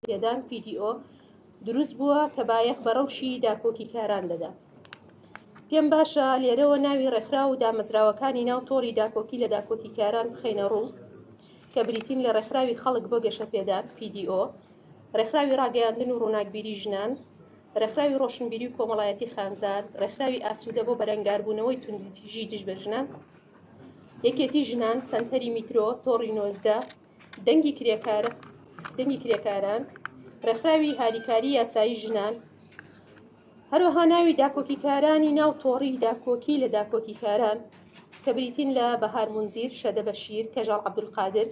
پێدان، PDO، دروست بووە کە بایەخ بە ڕەوشی داکۆکیکاران دەدات. پێم باشە لێرەوە ناوی ڕێکخراو و دامەزراوەکانی ناو تۆڕی داکۆکی لە داکۆکیکاران بخەینە ڕوو کە بریتین لە ڕێکخراوی خەڵک بۆ گەشەپێدان، PDO، ڕێکخراوی ڕاگەیاندن و ڕووناکبیری ژنان، ڕێکخراوی ڕۆشنبیری و کۆمەڵایەتی خانزاد، ڕێکخراوی ئاسوودە بۆ بەرەنگاربوونەوەی توندوتیژی دژ بە ژنان، یەکێتی ژنان، سەنتەری میترۆ، تۆڕی نۆزدە، دەنگی کرێکار دەنگی کرێکاران ڕێکخراوی هاریکاری یاسایی ژنان هەروەها ناوی داکۆکیکارانی ناو تۆڕی داکۆکی لە داکۆکیکاران کە بریتین لە بەهار منزیر شەدە بەشیر کەژاڵ عبدولقادر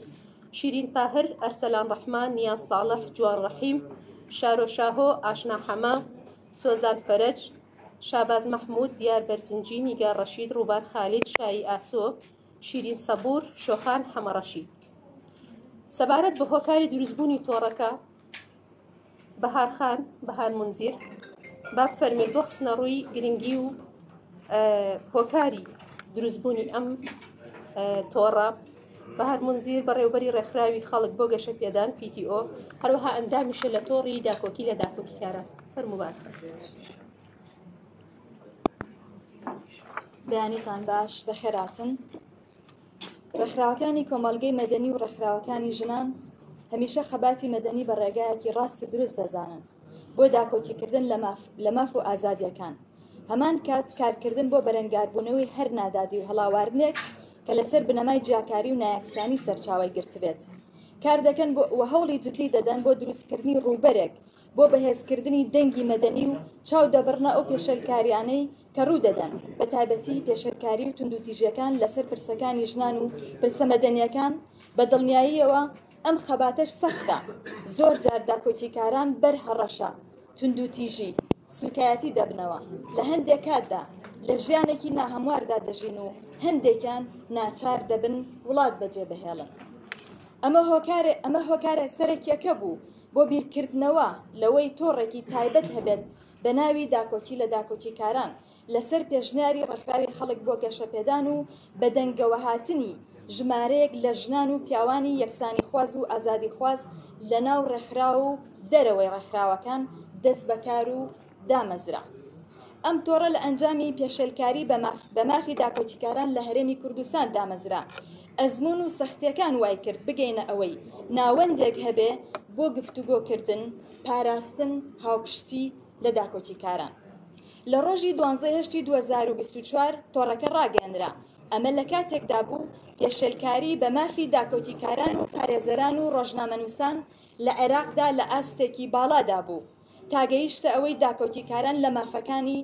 شیرین تاهر ئەرسەلان ڕحمان نیا ساڵح جوان ڕحیم شارۆ شاهۆ ئاشنا حەمە سۆزان فەرج شاباز مححمود دیار بەرزنجی نیگا ڕەشید ڕووبار خالید شایی ئاسۆ شیرین سەبوور، شۆخان حەمەڕەشی. سەبارەت بە هۆکاری دروستبوونی تۆڕەکە، بەهار خان، بەهار منزیر، با بفەرمێت بۆ خستنە ڕووی گرنگی و هۆکاری دروستبوونی ئەم تۆڕە بە هەر منزیر بەڕێوبەری ڕێکخراوی خەڵک بۆ گەشە پێدان پیتیۆ هەروەها ئەندامیشە لە تۆڕی داکۆکی لە داکۆکیکارە فەرموبات. بەیانیتان باش بەخێراتن ڕێکخراوەکانی کۆمەلگەی مەدەنی و ڕێکخراوەکانی ژنان هەمیشە خەباتی مەدەنی بە ڕێگایەکی ڕاست و دروست دەزانن بۆ داکۆکیکردن لە ماف و ئازادیەکان هەمان کات کارکردن بۆ بەرەنگاربوونەوەی هەر نادادی و هەڵاواردنێک کە لەسەر بنەمای جیاکاری و نایەکسانی سەرچاوی گرتبێت کار دەکەن و هەوڵی جددی دەدەن بۆ دروستکردنی ڕووبەرێک بۆ بەهێزکردنی دەنگی مەدەنی و چاو دەبڕنە ئەو پێشەلکاریانەی کە ڕوودەدەن بە تایبەتی پێشەلکاری و توندوتیژەکان لەسەر پرسەکانی ژنان و پرسە مەدەنیەکان بە دڵنیاییەوە ئەم خەباتەش سەختە زۆر جار داکۆکیکاران بەر هەڕەشە توندوتیژی سوکایەتی دەبنەوە لە هەندێک کاتدا لە ژیانێکی ناهەمواردا دەژین و هەندێکیان ناچار دەبن وڵات بەجێ بهێڵن ئەمە هۆکارێ ئەمە هۆکارە سەرەکیەکە بوو بۆ بیرکردنەوە لەوەی تۆڕێکی تایبەت هەبێت بە ناوی داکۆکی لە داکۆکیکاران لەسەر پێشنیاری ڕێکخراوی خەڵک بۆ گەشەپێدان و بەدەنگەوەهاتنی ژمارەیەک لە ژنان و پیاوانی یەکسانیخواز و ئازادیخواز لە ناو ڕێکخراو و دەرەوەی ڕێکخراوەکان دەستبەکار و دامەزرا. ئەم تۆڕە لە ئەنجامی پێشێلکاری بە مافی داکۆکیکاران لە هەرێمی کوردستان دامەزرا. ئەزمون و سەختیەکان وای کرد بگەینە ئەوەی ناوەندێک هەبێ بۆ گفتوگۆکردن، پاراستن، هاوپشتی لە داکۆکیکاران. لە ڕۆژی دوانزەی هەشتی 2024 تۆڕەکە ڕاگەێنرا ئەمە لە کاتێکدا بوو پێشێلکاری بە مافی داکۆکیکاران و پارێزەران و ڕۆژنامەنووسان لە عێراقدا لە ئاستێکی باڵادا بوو تا گەیشتە ئەوەی داکۆکیکاران لە مافەکانی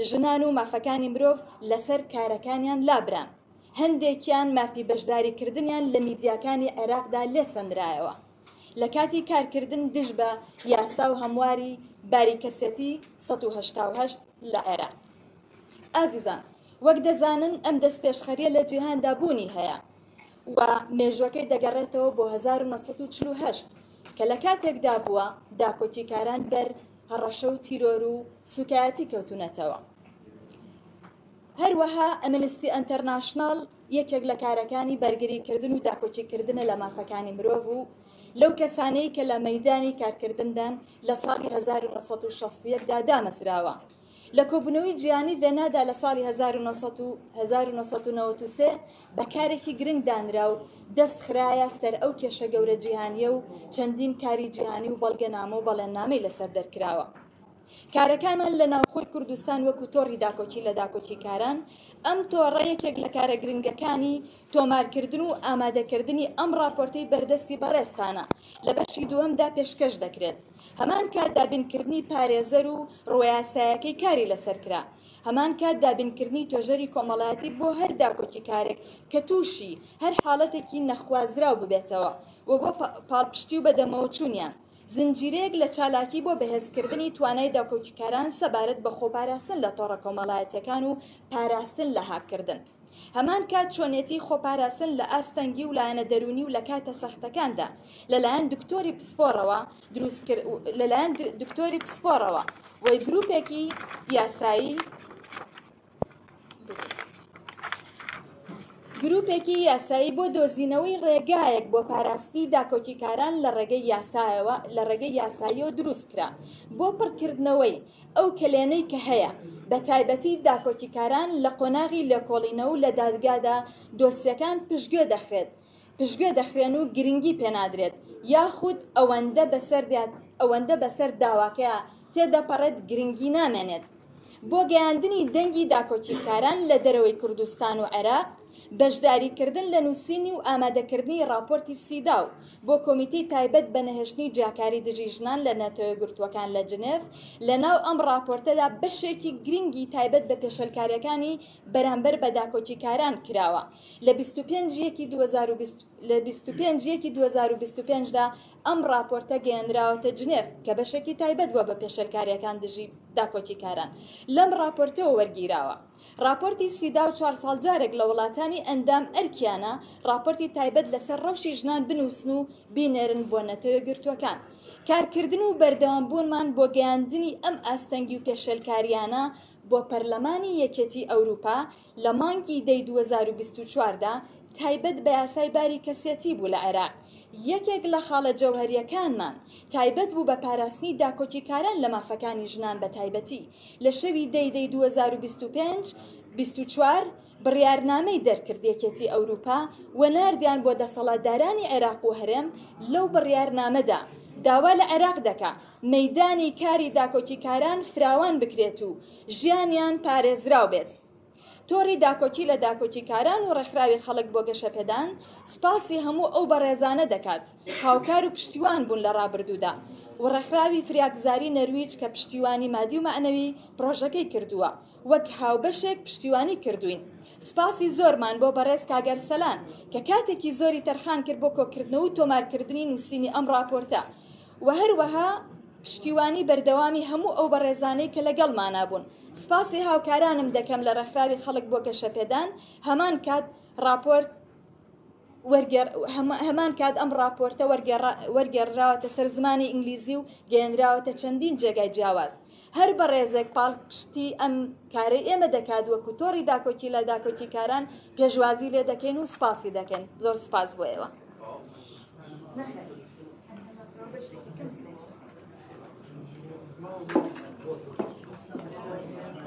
ژنان و مافەکانی مرۆڤ لەسەر کارەکانیان لابران. هەندێکیان مافی بەشداریکردنیان لە میدیاکانی عێراقدا لێسەندرایەوە. لە کاتی کارکردن دژ بە یاسا و هەمواری باری کەسێتی سەد و هەشتا و هەشت لە عێراق. ئازیزان، وەک دەزانن ئەم دەستپێشخەرییە لە جیهاندا بوونی هەیە. و مێژوەکەی دەگەڕێتەوە بۆ 1948 کە لە کاتێکدا بووە داکۆکیکاران بەر هەڕەشە و تیرۆر و سوکایەتی کەوتونەتەوە هەروەها ئەمنستی ئەتەرناشنال یەکێک لە کارەکانی بەرگریکردن و داکۆکیکردنە لە مافەکانی مرۆڤ و لەو کەسانەی کە لە مەدانی کارکردندان لە ساڵی 1960دا دامەزراوە لە کۆبوونەوەی جیهانی ڤێنادا لە ساڵی 1993 بە کارێکی گرنگ دانرا و دەست خراە سەر ئەو کێشە گەورە جیهانیە و چەندین کاری جیهانی و بەڵگەنامە و بەڵێننامەی لەسەر دەرکراوە. کارەکانمان لە ناوخۆی کوردستان وەکو تۆڕی داکۆکی لە داکۆکی کاران ئەم تۆڕە یەکێک لە کارە گرنگەکانی تۆمارکردن و ئامادەکردنی ئەم راپۆرتەی بەردەستی بەڕێستانە لە بەشی دووەمدا پێشکەش دەکرێت. هەمان کات دابینکردنی پارێزەر و ڕوەیاسایەکەی کاری لەسەر کرا هەمان کات دابینکردنی توێژەری کۆمەڵایەتی بۆ هەر داکۆکی کارێک کە تووشی هەر حاڵەتێکی نەخوازراو ببێتەوە و بۆ پاڵپشتی و بەدەمەوە چوونیان زنجیرەیەک لە چالاکی بۆ بەهێزکردنی توانای داکۆکیکاران سەبارەت بە خۆپاراستن لە تۆڕە کۆمەڵایەتەکان و پاراستن لە هاککردن. هەمان کات چۆنێتی خۆپاراستن لە ئاست تەنگی و لایەنە دەروونی و لە کاتە سەختەکاندا لەلایەن دکتۆری پسپۆڕەوە لەلایەن دکتۆری پسپۆڕەوە وی گروپێکی یاسایی گروپێکی یاسایی بۆ دۆزینەوەی ڕێگایەک بۆ پاراستی داکۆکیکاران لە ڕێگەی یاسایەوە لە ڕێگەی یاساییەوە دروستکرا بۆ پڕکردنەوەی ئەو کەلێنەی کە هەیە، بەتایبەتی داکۆکیکاران لە قۆناغی لێکۆڵینەوە و لە دادگادا دۆسیەکان پشتگوێ دەخرێت، پشتگوێ دەخرێن و گرنگی پێنادرێت، یاخود ئەوەندە بەسەر ئەوەندە بەسەر داواکەیا تێدەپەڕێت گرنگی نامێنێت. بۆ گەیاندنی دەنگی داکۆکیکاران لە دەرەوەی کوردستان و عێراق، بەشداریکردن لە نووسینی و ئامادەکردنی ڕاپۆرتی سیداو بۆ کۆمیتەی تایبەت بە نەهێشتنی جیاکاری دژی ژنان لە ناتۆیەکگرتووەکان لە جنێف، لە ناو ئەم ڕاپۆرتەدا بەشێکی گرنگی تایبەت بە پێشێلکارییەکانی بەرامبەر بە داکۆکیکاران کراوە لە بیست و پێنج یەکی دوو هەزار و بیست لە بیست و پێنج یەکی دوو هەزار و بیست و پێنج دا ئەم ڕاپۆرتە گەیەنراوەتە جنێف کە بەشێکی تایبەت بووە بە پێشێلکارییەکان دژی داکۆکیکاران لەم ڕاپۆرتەوە وەرگیراوە. ڕاپۆرتی سیداو چوار ساڵ جارێک لە وڵاتانی ئەندام ئەرکیانە ڕاپۆرتی تایبەت لەسەر ڕەوشی ژنان بنووسن و بینێرن بۆ نەتەوە یەکگرتووەکان. کارکردن و بەردەوام بوونمان بۆ گەیاندنی ئەم ئاستەنگی و پێشێلکارییانە بۆ پەرلەمانی یەکێتی ئەوروپا لە مانگی دەی دوو هەزار و بیست و چوار دا تایبەت بە یاسای باری کەسێتی بوو لە عێراق. یەکێک لە خاڵە جەوهەرییەکانمان تایبەت بوو بە پاراستنی داکۆکیکاران لە مافەکانی ژنان بە تایبەتی. لە شەوی دەی دەی دوو هەزار و بیست و پێنج بیست و چوار بڕیارنامەی دەرکرد یەکێتی ئەوروپا و ناردیان بۆ دەسەڵاتدارانی عێراق و هەرێم لەو بڕیارنامەدا داوا لە عێراق دەکا مەیدانی کاری داکۆکیکاران فراوان بکرێت و ژیانیان پارێزراو بێت تۆڕی داکۆکی لە داکۆکیکاران و ڕێکخراوی خەڵک بۆ گەشەپێدان سوپاسی هەموو ئەو بەڕێزانە دەکات هاوکار و پشتیوان بوون لە ڕابردوودا و ڕێکخراوی فریاگوزاری نەرویج کە پشتیوانی مادی و مەعنەوی پڕۆژەکەی کردووە وەک هاوبەشێک پشتیوانی کردوین سوپاسی زۆرمان بۆ بەڕێز کاگەرسەلان کە کاتێکی زۆری تەرخان کرد بۆ کۆکردنەوە و تۆمارکردنی نووسینی ئەم ڕاپۆرتە و هەروەها پشتیوانی بەردەوامی هەموو ئەو بەڕێزانەی کە لەگەڵمانە بوون سپاسی هاوکارانم دەکەم لە ڕێکخراوی خەڵک بۆ گەشەپێدان هەمان کات راپۆرت هەمان کات ئەم راپۆرتە وەرگێڕراوەتە سەر زمانی ئینگلیزی و گەێنراوەتە چەندین جێگای جیاواز هەر بەڕێزێک پاڵپشتی ئەم کارەی ئێمە دەکات وەکو تۆڕی داکۆکی لە داکۆکیکاران پێشوازی لێ دەکەین و سپاسی دەکەن زۆر سپاس بۆ ئێوە.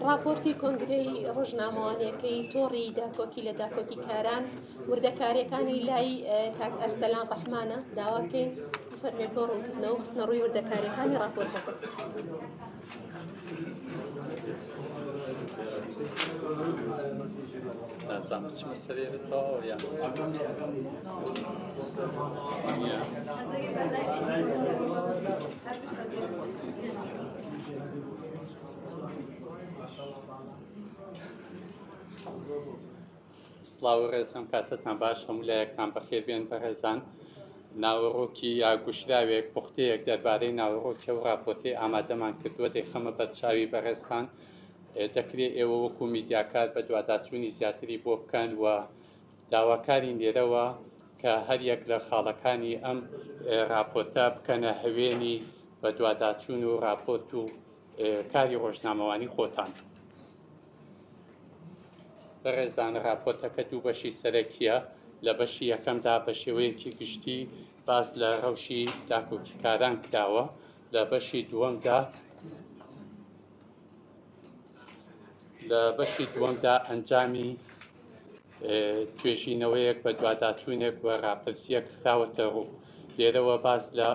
ڕاپۆرتی کۆنگرەی ڕۆژنامەوانیەکەی تۆڕی داکۆکی لە داکۆکیکاران وردەکاریەکانی لای کاک ئەرسەلان ڕەحمانە داواکەین فەرمێت بۆ ڕوونکردنەوە خستنە ڕووی وردەکاریەکانی ڕاپۆرتەکە. نازام بچمە سەرێتەوە یان Thank you. سڵاو و ڕێزم کاتتان باش هەموو لایەکتان بەخێربێن بەڕێزان ناوەڕۆکی یا گوشراوێک پوختەیەک دەربارەی ناوەڕۆکی و راپۆرتی ئامادەمان کردووە دەیخەمە بەرچاوی بەڕێزتان دەکرێت ئێوە وەکو میدیاکار بە دوواداچوونی زیاتری بۆ بکەن و داواکاری لێرەوە کە هەر یەک لە خاڵەکانی ئەم راپۆرتە بکەنە هەوێنی بە دوواداچوون و راپۆرت و کاری ڕۆژنامەوانی خۆتان. بەڕێزان راپۆرتەکە دوو بەشی سەرەکیە لە بەشی یەکەمدا بە شێوەیەکی گشتی باس لە ڕەوشی داکۆکیکاران کراوە لە بەشی دووەمدا لە بەشی دووەمدا ئەنجامی توێژینەوەیەک بە دواداچوونێک و راپرسیەک خراوەتە ڕوو لێرەوە باس لە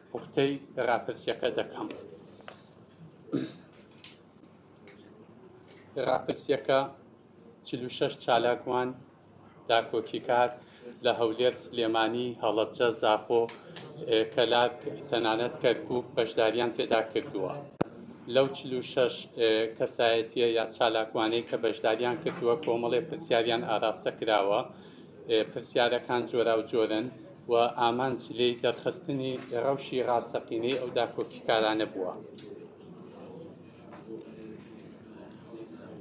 پوختەی راپرسیەکە دەکەم. راپرسیەکە چل و شەش چالاکوان داکۆکیکار لە هەولێر سلێمانی هەڵەبجە زاخۆ کەلار تەنانەت کەرکک بەشداریان تێدا کردووە لەو چل و شەش کەسایەتیە یا چالاکوانەی کە بەشداریان کردووە کۆمەڵێ پرسیاریان ئاراستە کراوە پرسیارەکان جۆرا و جۆرن و ئامانج لێی دەرخستنی ڕەوشی ڕاستەقینەی ئەو داکۆکیکارانە بووە.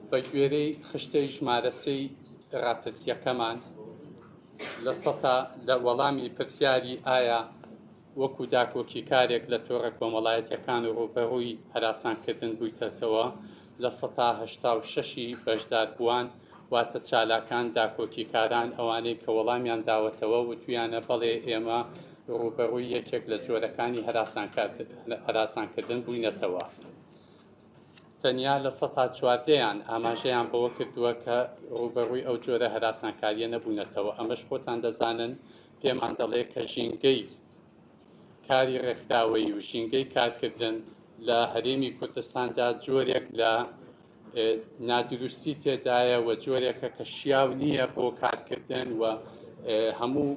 بە گوێرەی خشتەی ژمارە سێی ڕاپرسییەکەمان لە سەتا لە وەڵامی پرسیاری ئایا وەکو داکۆکی کارێک لە تۆڕە کۆمەڵایەتەکان و ڕوبەڕووی هەراسانکردن بوویتەتەوە لە سەتا هەشتا و شەشی بەشدار بووان واتە چالاکان داکۆکیکاران ئەوانەی کە وەڵامیان داوەتەوە وتویانە بەڵێ ئێمە ڕووبەڕووی یەکێک لە جۆرەکانی هەراسانکردن بووینەتەوە تەنیا لە سەتا چواردەیان ئاماژەیان بەوە کردووە کە ڕووبەڕووی ئەو جۆرە هەراسانکاریە نەبوونەتەوە ئەمەش خۆتان دەزانن پێمان دەڵێ کە ژینگەی کاری ڕێکخراوەی و ژینگەی کارکردن لە هەرێمی کوردستاندا جۆرێک لە نادروستی تێدایە و جۆرێکە کە شیاو نییە بۆ کارکردن و هەموو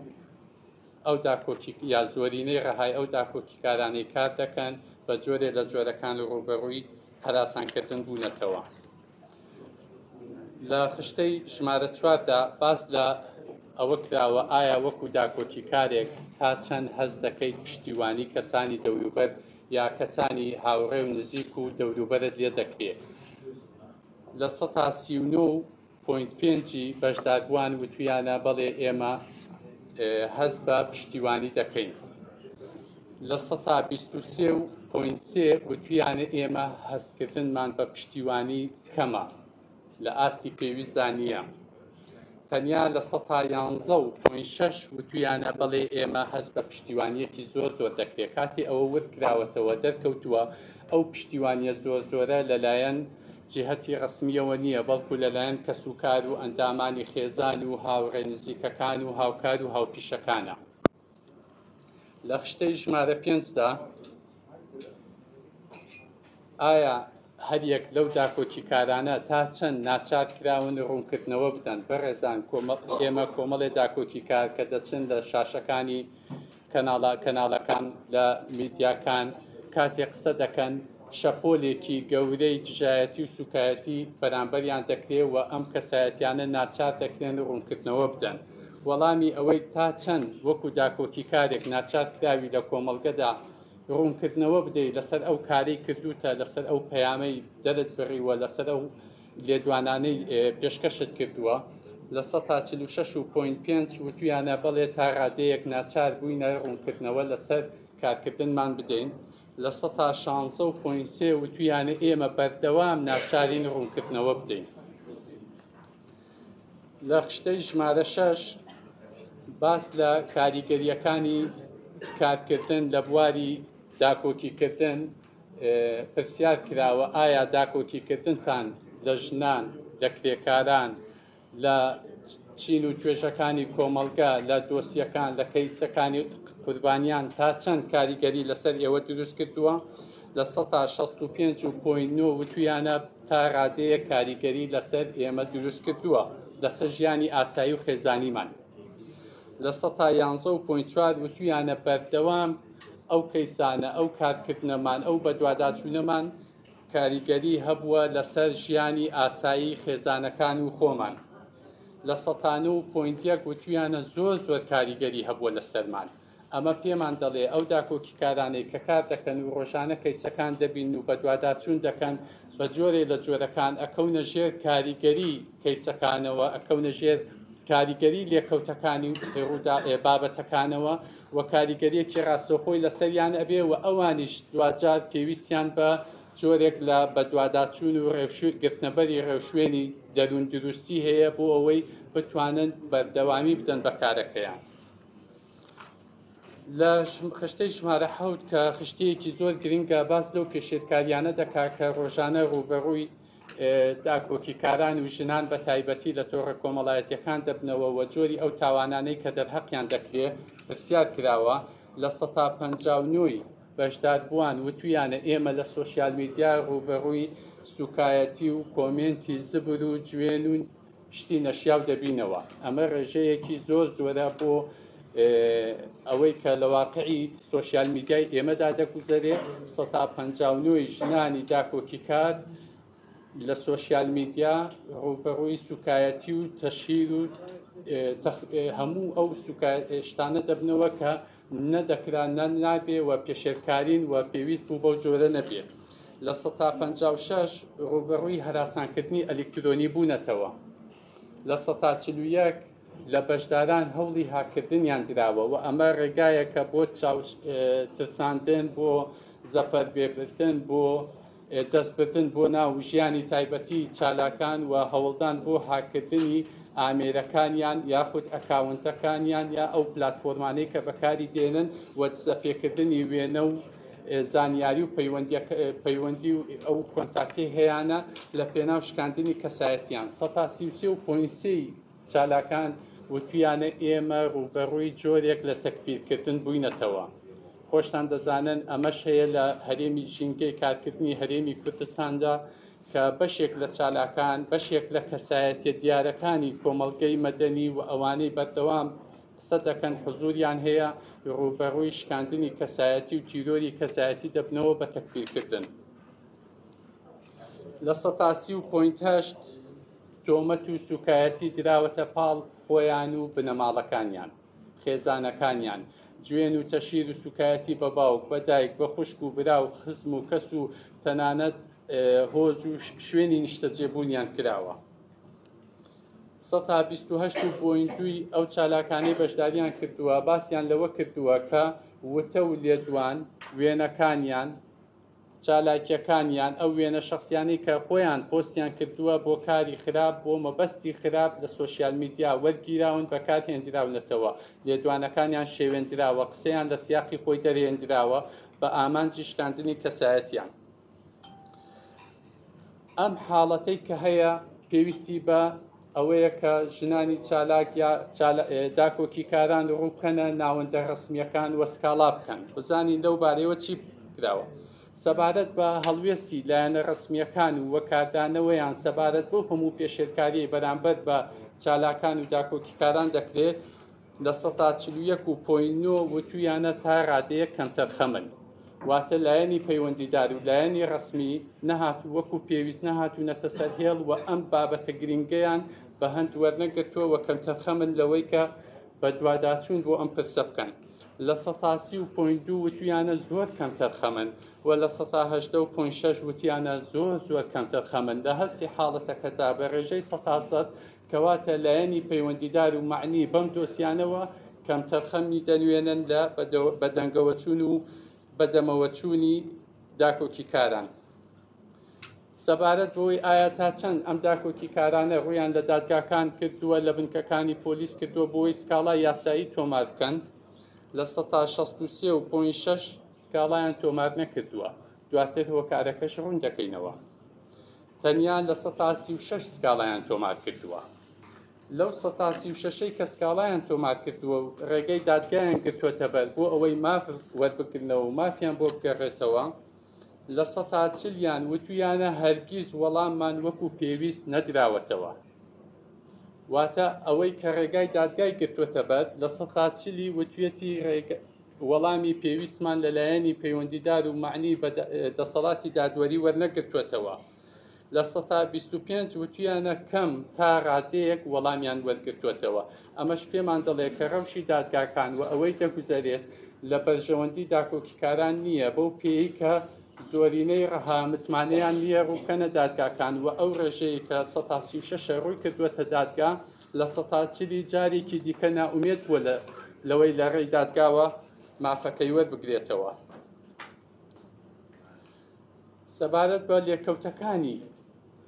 ئەو داکۆکی یا زۆرینەی ڕەهای ئەو داکۆکیکارانەی کار دەکەن بە جۆرێ لە جۆرەکان و ڕوبەڕووی هەراسانکردن بوونەتەوە لە خشتەی ژمارە چواردا باس لە ئەوە کراوە ئایا وەکو داکۆکیکارێک تا چەند هەست دەکەیت پشتیوانی کەسانی دەوروبەر یا کەسانی هاوڕێ و نزیک و دەوروبەرت لێ دەکرێت لە سەتا سی و نۆ پۆینت پێنج ی بەشداربووان وتویانە بەڵێ ئێمە هەست بە پشتیوانی دەکەین لە سەتا بیست و سێ و پۆینت سێ وتویانە ئێمە هەستکردنمان بە پشتیوانی کەمە لە ئاستی پێویستدا نییە تەنیا لە سەتا یانزە و پۆین شەش وتویانە بەڵێ ئێمە هەست بە پشتیوانیەکی زۆر زۆر دەکرێت کاتی ئەوە ورد کراوەتەوە دەرکەوتووە ئەو پشتیوانیە زۆر زۆرە لەلایەن جیهەتی ڕەسمییەوە نییە، بەڵکو لەلایەن کەسوکار و ئەندامانی خێزان و هاوڕێ نزیکەکان و هاوکار و هاوپیشەکانە. لە خشتەی ژمارە پێنجدا ئایا هەریەک لەو داکۆکیکارانە تا چەند ناچار کراون ڕوونکردنەوە بدەن بەڕێزان ئێمە کۆمەڵێ داکۆکیکار کە دەچن لە شاشەکانی کەناڵە کەناڵەکان لە میدیاکان کاتێ قسە دەکەن شەپۆلێکی گەورەی دژایەتی و سوکایەتی بەرامبەریان دەکرێت و ئەم کەسایەتیانە ناچار دەکرێن ڕوونکردنەوە بدەن وەڵامی ئەوەی تا چەند وەکو داکۆکی کارێک ناچار کراوی لە کۆمەڵگەدا ڕوونکردنەوە بدەیت لەسەر ئەو کاری کردوتە لەسەر ئەو پەیامەی دەرت بڕیوە لەسەر ئەو لێدوانانەی پێشکەشت کردووە لە سەتا چل و شەش و پۆینت پێنج وتویانە بەڵێ تا ڕادەیەک ناچار بووینە ڕوونکردنەوە لەسەر کارکردنمان بدەین لە سەتا شانزە و پۆینت سێ وتویانە ئێمە بەردەوام ناچارین ڕوونکردنەوە بدەین لە خشتەی ژمارە شەش باس لە کاریگەریەکانی کارکردن لە بواری داکۆکیکردن پرسیار کراوە ئایا داکۆکیکردنتان لە ژنان لە کرێکاران لە چین و توێژەکانی کۆمەڵگە لە دۆسیەکان لە کەیسەکانی قوربانیان تا چەند کاریگەری لەسەر ئێوە دروست کردووە لە 1965 و پۆین نۆ وتویانە تا ڕادەیە کاریگەری لەسەر ئێمە دروست کردووە لەسەر ژیانی ئاسایی و خێزانیمان لە 1970 و پوین چوار وتویانە بەردەوام ئەو کەیسانە ئەو کارکردنەمان ئەو بەدواداچوونەمان کاریگەری هەبووە لەسەر ژیانی ئاسایی خێزانەکان و خۆمان لە سەتانە و پوینتیەک وتویانە زۆر زۆر کاریگەری هەبووە لە سەرمان ئەمە پێمان دەڵێ ئەو داکۆکی کارانەی کە کار دەکەن و ڕۆژانە کەیسەکان دەبین و بەدواداچوون دەکەن بە جۆرێ لە جۆرەکان ئەکەونە ژێر کاریگەری کەیسەکانەوە ئەکەونە ژێر کاریگەری لێکەوتەکانی ڕوودا بابەتەکانەوە و کاریگەریەکی ڕاستەوخۆی لەسەریان ئەبێ و ئەوانیش دواجار پێویستیان بە جۆرێک لە بەدواداچوون و ڕێوشوێ گرتنەبەری ڕێوشوێنی دەروون دروستی هەیە بۆ ئەوەی بتوانن بەردەوامی بدەن بە کارەکەیان. لە خشتەی ژمارە حەوت کە خشتەیەکی زۆر گرنگە باس لەو پێشێلکاریانە دەکات کە ڕۆژانە ڕووبەڕووی داکۆکیکاران و ژنان بە تایبەتی لە تۆڕە کۆمەڵایەتیەکان دەبنەوە و جۆری ئەو تاوانانەی کە دەرهەقیان دەکرێت پرسیار کراوە لە سەتا پ نۆی بەشداربووان وتویانە ئێمە لە سۆسیال میدیا ڕووبەڕووی سوکایەتی و کۆمێنتی زبر و جوێن و شتی نەشیاو دەبینەوە ئەمە ڕێژەیەکی زۆر زۆرە بۆ ئەوەی کە لە واقعی سوۆسیال میدیای ئێمەدا دەگوزەرێ سەتا پ ژنانی داکۆکی کات لە سوۆسیال میدیا ڕوبەڕووی سوکایەتی و تەشیر و هەموو ئەو شتانە دەبنەوە کە نە دەکرا نە نابێ و پێشێلکارین و پێویست بوو بەو جۆرە نەبێ لە سەتا پەنجا و شەش ڕووبەڕووی هەراسانکردنی ئەلیکترۆنی بوونەتەوە لە سەتا چل و یەک لە بەشداران هەوڵی هاکردنیان دراوە و ئەمە ڕێگایەکە بۆ چاو اه، ترساندن بۆ زەفەربێبردن بۆ دەستبردن بۆ ناو ژیانی تایبەتی چالاکان و هەوڵدان بۆ هاککردنی ئامێرەکانیان یاخود ئەکاونتەکانیان یا ئەو پلتفۆرمانەی کە بەکاری دێنن و دزەپێکردنی وێنە و زانیاری و پەیوەندی و ئەو کۆنتاکتی هەیەە لە پێناو شکاندنی کەسایەتیان سەتا سی و سێ و پۆینسی چالاکان وتویانە ئێمە ڕووبەڕووی جۆرێک لە تەکفیرکردن بووینەتەوە، خۆشتان دەزانن ئەمەش هەیە لە هەرێمی ژینگەی کارکردنی هەرێمی کوردستاندا کە بەشێک لە چالاکان بەشێک لە کەسایەتیە دیارەکانی کۆمەڵگەی مەدەنی و ئەوانەی بەردەوام قسە دەکەن حزوریان هەیە ڕووبەڕووی شکاندنی کەسایەتی و تیرۆری کەسایەتی دەبنەوە بە تەکفیرکردن لە سەتاسی و پوینتهشت تۆمەت و سوکایەتی دراوەتە پاڵ خۆیان و بنەماڵەکانیان خێزانەکانیان جوێن و تەشیر و سوکایەتی بە باوک بە دایک بە خوشک و برا و خزم و کەس و تەنانەت هۆز و شوێنی نیشتەجێبوونیان کراوە. سەتا 28 و بۆین دوی ئەو چالاکانەی بەشداریان کردووە باسیان لەوە کردووە کە وتە و لێدوان وێنەکانیان چالاکیەکان یان ئەو وێنە شەخسیانەی کە خۆیان پۆستیان کردووە بۆ کاری خراپ بۆ مەبەستی خراپ لە سۆشیال میدیا وەرگیراون بەکار هێندراونەتەوە لێدوانەکانیان شێوێندراوە قسەیان لە سیاقی خۆی دەرهێندراوە بە ئامانجی شکاندنی کەسایەتیان. ئەم حاڵەتەی کە هەیە پێویستی بە ئەوەیە کە ژنانی چالاک یا داکۆکی کاران ڕووکەنە ناوەندە ڕسمیەکان وە سکاڵا بکەن بزانین لەو بارەوە چی کراوە سەبارەت بە هەڵوێستی لایەنە ڕسمیەکان و وەکاردانەوەیان سەبارەت بۆ هەموو پێشێلکاری بەرامبەر بە چالاکان و داکۆکیکاران دەکرێت لە سەتا چل و یەک و پۆی نۆ وتویانە تا ڕادەیەک کەمتەرخەمن واتە لایەنی پەیوەندیدار و لایەنی ڕسمی نەهات و وەکو پێویست نەهات و نەتە سەر هێڵ و ئەم بابەتە گرنگیان بە هەند وەرنەگرتووە وە کەمتەرخەمن لەوەی کە بە دواداچوون بۆ ئەم پرسە بکەن لە سەتاسی و پۆین دوو وتویانە زۆر کەمتەرخەمن و لە سەتا هەشدە و پۆین شەش وتیانە زۆر زۆر کەمتەرخەمن لە هەرسی حاڵەتەکەدا بە ڕێژەی سەتاسەد کەواتە لایەنی پەیوەندیدار و معنی بەم دۆسیانەوە کەمتەرخەمی دەنوێنن لە بەدەنگەوەچوون و بەدەمەوەچوونی داکۆکی کاران. سەبارەت بۆی ئایا تا چەند ئەم داکۆکی کارانە ڕویان لە دادگاکان کردووە لە بنکەکانی پۆلیس کردووە بۆی سکاڵا یاسایی تۆمار بکەن لە 16 و 6 سکاڵایان تۆمار نەکردووە دواتر هۆکارەکەش ڕوون دەکەینەوە. تەنیا لە سەتا سی و شەش سکاڵایان تۆمار کردووە. لەو سەتا سی و شەشەی کە سکاڵایان تۆمار کردووە و ڕێگەی دادگایان گرتووەتە بەر بۆ ئەوەی ماف وەربگرنەوە و مافیان بۆ بگەڕێتەوە، لە سەتا چلیان وتویانە هەرگیز وەڵاممان وەکو پێویست نەدراوەتەوە. واتە ئەوەی کە ڕێگای دادگای گرتووەتە بەر، لە سەتا چلی وتویەتی ڕێگە وەڵامی پێویستمان لە لایەنی پەیوەندیدار و معنی بە دەسەڵاتی دادوەری وەرنەگرتووەتەوە لە سەتا 25 وتویانە کەم تا ڕادەیەک وەڵامیان وەرگرتووەتەوە ئەمەش پێمان دەڵێت کە ڕەوشی دادگاکان و ئەوەی دەگوزارێت لە بەرژەوەندی داکۆکیکاران نییە بەو پێی کە زۆرینەی ڕەها متمانەیان لیە ڕووکەنە دادگاکان و ئەو ڕێژەیە کە 16 ڕووی کردووەتە دادگا لە سەتاچری جارێکی دیکە نائومێد بووە لە لەوەی لە ڕێی دادگاوە مافەکەی وەربگرێتەوە سەبارەت بە لێکەوتەکانی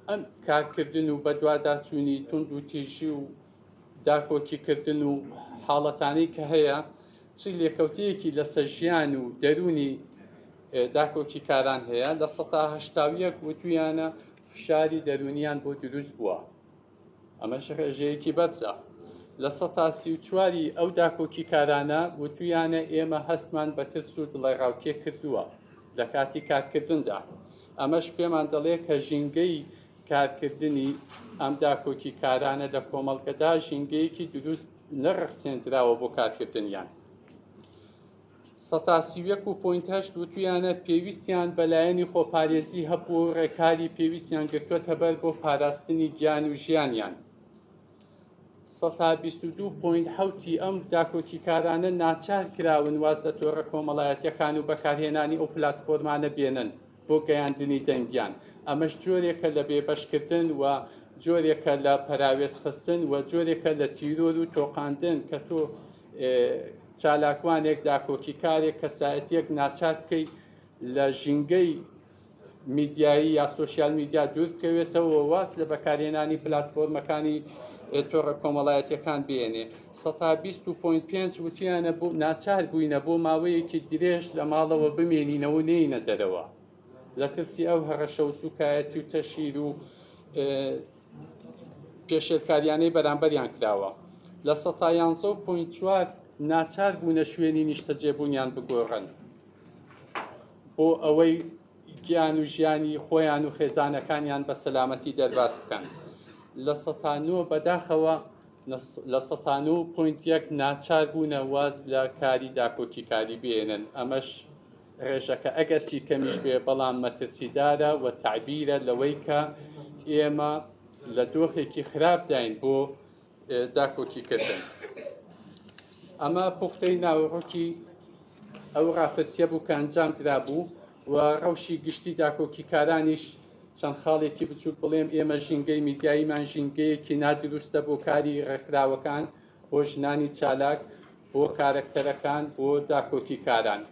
ئەم کارکردن و بەدواداچوونی تونند و تیژی و داکۆکیکردن و حاڵەتانی کە هەیە چ لێکەوتەیەکی لەسەر ژیان و دەرونی داکۆکیکاران هەیە لە سەهشتاویەک وتویانە فشاری دەرونیان بۆ دروست بووە ئەمەش ڕێژەیەکی بەرزە. لە سەتا سی و چواری ئەو داکۆکیکارانە وتویانە ئێمە هەستمان بە ترس و دڵەڕاوکێ کردووە لە کاتی کارکردندا. ئەمەش پێمان دەڵێت کە ژینگەی کارکردنی ئەم داکۆکیکارانە لە کۆمەڵگەدا ژینگەیەکی دروست نەڕەخسێندراوە بۆ کارکردنیان. سەتا سی و یەک و پۆینت هەشت وتویانە پێویستیان بە لایەنی خۆپارێزی هەبوو و ڕێکاری پێویستیان گرتووەتە بەر بۆ پاراستنی گیان و ژیانیان. سەتا بیست و دوو پۆینت حەوتی ئەم داکۆکیکارانە ناچار کراون واز لە تۆڕە کۆمەڵایەتیەکان و بەکارهێنانی ئەو پلاتفۆرمانە بێنن بۆ گەیاندنی دەنگیان ئەمەش جۆرێکە لە بێبەشکردن و جۆرێکە لە پەراوێزخستن و جۆرێکە لە تیرۆر و تۆقاندن کە تۆ چالاکوانێک داکۆکیکارێک کەسایەتیەک ناچار بکەیت لە ژینگەی میدیایی یا سوسیال میدیا دوور بکەوێتەوە واز لە بەکارێنانی پلتفۆرمەکانی تۆڕە کۆمەڵایەتەکان بێنێ 125 وتیانە بۆ ناچار بووینە بۆ ماوەیەکی درێژ لە ماڵەوە بمێنینەوە نینە دەرەوە لە ترسی ئەو هەڕەشە و سوکایەتی و تەشیر و پێشێلکاریانەی بەرامبەریان کراوە لە سەتا یانزە و پوین چوار ناچار بوونە شوێنی نیشتەجێبوونیان بگۆڕن بۆ ئەوەی گیان و ژیانی خۆیان و خێزانەکانیان بە سەلامەتی دەرباز بکەن لە سەتانۆ بەداخەوە لە سەتان و پوینت یەک ناچار بوونە واز لە کاری داکۆکیکاری بێنن ئەمەش ڕێژەکە ئەگەرچی کەمیش بێ بەڵام مەترسیدارە و تعبیرە لەوەی کە ئێمە لە دۆخێکی خراپداین بۆ داکۆکیکردن ئەمە پوختەی ناوڕۆکی ئەو ڕاپرسیە بوو کە ئەنجام درا بوو و ڕەوشی گشتی داکۆکیکارانیش چەند خاڵێکی بچووک بڵێم ئێمە ژینگەی میدیاییمان ژینگەیەکی نادروستە بۆ کاری ڕێکخراوەکان بۆ ژنانی چالاک بۆ کارەکتەرەکان بۆ داکۆکیکاران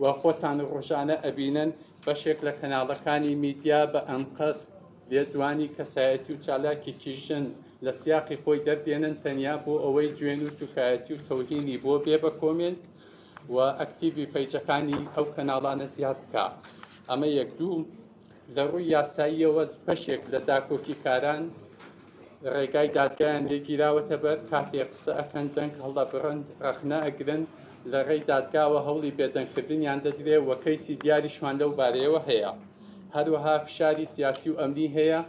و خۆتان ڕۆژانە ئەبینن بەشێک لە کەناڵەکانی میدیا بە ئەنقەست لێدوانی کەسایەتی و چالاکێکی ژن لە سیاقی خۆی دەردێنن تەنیا بۆ ئەوەی جوێن و سوکایەتی و تەوهینی بۆ بێ بە کۆمێنت و ئەکتیڤی پەیجەکانی ئەو کەناڵانە زیاد بکە ئەمە یەک دوو لە ڕووی یاساییەوە بەشێک لە داکۆکیکاران ڕێگای دادگایان لێگیراوەتە بەر کاتێ قسە ئەکەن دەنگ هەڵدەبڕن ڕەخنە ئەگرن لە ڕێی دادگاوە هەوڵی بێدەنگکردنیان دەدرێ و کەیسی دیاریشمان لەو بارەیەوە هەیە هەروەها فشاری سیاسی و ئەمنی هەیە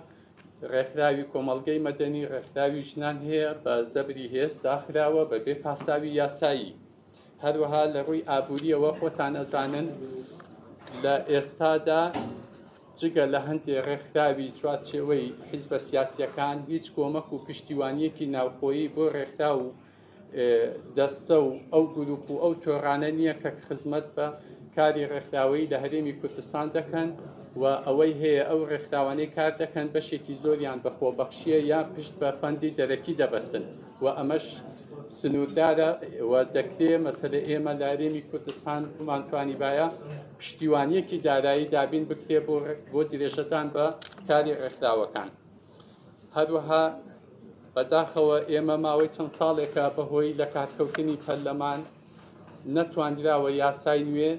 ڕێکخراوی کۆمەڵگەی مەدەنی ڕێکخراوی ژنان هەیە بە زەبری هێز داخراوە بەبێ پاساوی یاسایی هەروەها لە ڕووی ئابووریەوە خۆتان ئەزانن لە ئێستادا جگە لە هەندێ ڕێکخراوی چوارچێوەی حیزبە سیاسیەکان هیچ کۆمەک و پشتیوانیەکی ناوخۆیی بۆ ڕێکخرا و دەستە و ئەو گروپ و ئەو تۆرانە نییە کە خزمەت بە کاری ڕێکخراوەی لە هەرێمی کوردستان دەکەن و ئەوەی هەیە ئەو ڕێکخراوانەی کار دەکەن بەشێکی زۆریان بەخۆ بەخشیە یا پشت بە فەندی دەرەکی دەبەستن. و ئەمەش سنووردارە و دەکرێ مەسەلە ئێمە لارێمی کوردستان بمانتوانی باە پشتیوانیەکی دارایی دابین بکرێ بۆ بۆ درێژەدان بە کاری ڕێکخراوەکان هەروەها بەداخەوە ئێمە ماوەی چەند ساڵێکە بەهۆی لە کاتکەوتنی پەرلەمان نەتواندراوە یاسای نوێ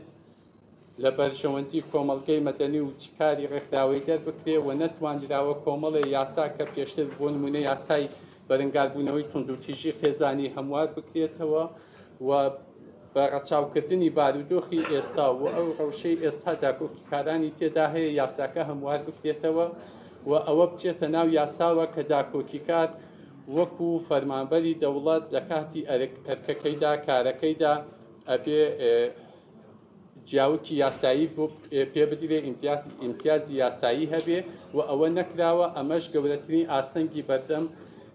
لە بەرژەوەندی کۆمەڵگەی مەدەنی و چ کاری ڕێکخراوەی دەربکرێ و نەتوانراوە کۆمەڵێ یاسا کە پێشتر بۆ نمونە یاسای بەرەنگاربوونەوەی توندوتیژی خێزانی هەموار بکرێتەوە و بە ڕەچاوکردنی بارودۆخی ئێستا و ئەو ڕەوشەی ئێستا داکۆکیکارانی تێدا هەیە یاساکە هەموار بکرێتەوە و ئەوە بچێتە ناو یاساوە کە داکۆکیکار وەکو فەرمانبەری دەوڵەت لە کاتی ئەرکەکەیدا کارەکەیدا ئەبێ جیاوکی یاسایی بۆ پێ بدرێ ئیمتیازی یاسایی هەبێ و ئەوە نەکراوە ئەمەش گەورەترین ئاستەنگی بەردەم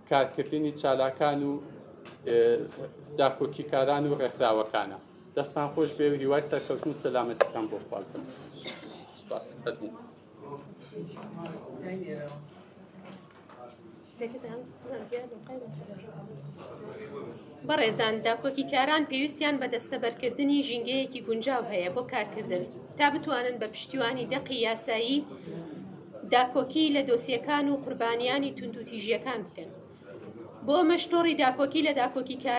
کارکردنی چالاکان و داکۆکیکاران و ڕێکخراوەکانە دەستان خۆش بێ و هیوای سەرکەوتن سەلامەتەکان بۆ خوازم. بەڕێزان داکۆکی کاران پێویستیان بە دەستەبەرکردنی ژینگەیەکی گونجاو هەیە بۆ کارکردن تا بتوانن بە پشتیوانی دەقی یاسایی داکۆکی لە دۆسیەکان و قوربانیانی توندوتیژیەکان بکەن بۆ مەشتۆڕی داکۆکی لە داکۆکی کار